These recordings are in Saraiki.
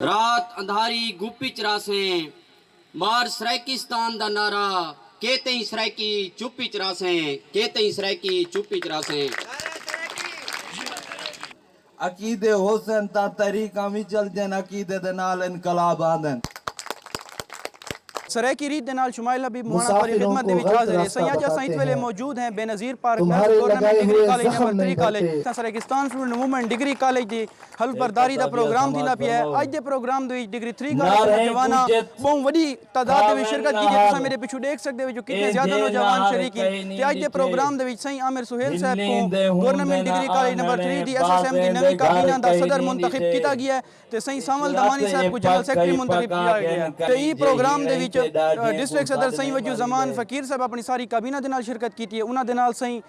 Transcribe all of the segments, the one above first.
رات اندھاری گپ اچ رہسیں۔ مار سرائیکستان دا نعرہ کے تئیں سرائیکی چپ اچ رہسیں کے تئیں سرائیکی چپ اچ رہسیں۔ عقیدے ہوسن تاں تحریکاں وی چلدین عقیدے دے نال انقلاب آندن۔ سرائیکی ریت دے نال شمائل حبیب مواݨا تہاݙی خدمت دے وچ حاضر ہے سئیں اڄ اساں ایتھ ویلے موجود ہیں Benazir park nursery tournament degree college دے مرکری کالج تاں Saraikistan student movement degree college دی حلف برداری دا پروگرام تھیندا پیا ہے اج دے پروگرام دے وچ ڈگری تھری کالج دے نوجواناں بہوں وڈی تعداد دے وچ شرکت کیتی تساں میڈے پچھوں ڈیکھ سکدے ہو جو کتنے زیادہ نوجوان شریک ہن تے اج دے پروگرام دے وچ سئیں عامر سہیل صاحب کوں government degree college number three دی ایس ایس ایم دی نویں کابینہ دا صدر منتخب کیتا گیا ہے تے سئیں سانول دمانی صاحب کوں جنرل سیکرٹری منتخب کیتا گیا ہے تے ایں پروگرام دے وچ ڈسٹرکٹ صدر سئیں وجیہالزمان فقیر صاحب اپنی ساری کابینہ دے نال شرکت کیتی ہے انہاں دے نال سئیں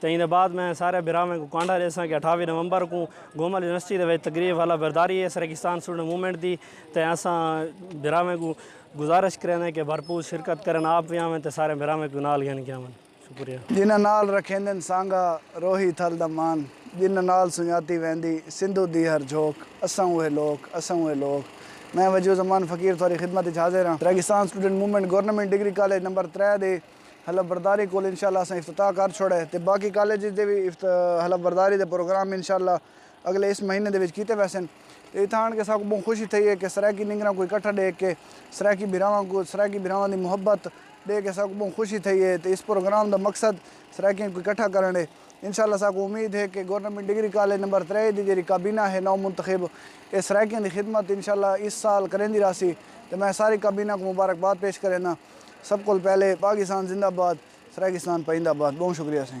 تے ایندے بعد میں سارے بھراواں کوں کانڈھا ڈیساں کہ اٹھاوی نومبر کوں گومل یونیورسٹی دے وچ تقریب حلف برداری ہے سرکستان اسٹوڈنٹ موومنٹ دی تے اساں بھراواں کوں گزارش کریندے کہ بھرپور شرکت کرن آپ وی آون تے سارے بھراواں کوں نال گھن کے آون شکریہ۔ جنہاں نال رکھیندن سانگا روہی تھل دا مان جنہاں نال سنجاتی ویندی سندھو دی ہر جھوک اساں اوہے لوک اساں اوہے لوک میں وجیہالزمان فقیر تہاڈی خدمت وچ حاضر ہاں Saraikistan student movement government degree college number ترے دے حلف برداری کول انشاءاللہ اساں افتتاح کر چھوڑے تے باقی کالجز دے وی حلف برداری دے پروگرام انشاءاللہ اگلے اس مہینے دے وچ کیتے ویسن تے اتھاں آن کے اساں کوں بہوں خوشی تھئی ہے کہ سرائیکی نینگراں کوں اکٹھا ڈیکھ کے سرائیکی بھراواں کوں سرائیکی بھراواں دی محبت ڈیکھ کے اساں کوں بہوں خوشی تھئی ہے تے اس پروگرام دا مقصد سرائیکیاں کوں اکٹھا کرݨ ہے۔ انشاءاللہ اساکوں امید ہے کہ گورنمنٹ ڈگری کالج نمبر ترے دی جیہڑی کابینہ ہے نو منتخب اے سرائیکیاں دی خدمت انشاءاللہ اس سال کریندی راہسی تے میں ساری کابینہ کوں مبارکباد پیش کرینداں سب کول پہلے پاکستان زندہ باد سرائیکستان پائیندہ باد بہوں شکریہ سی۔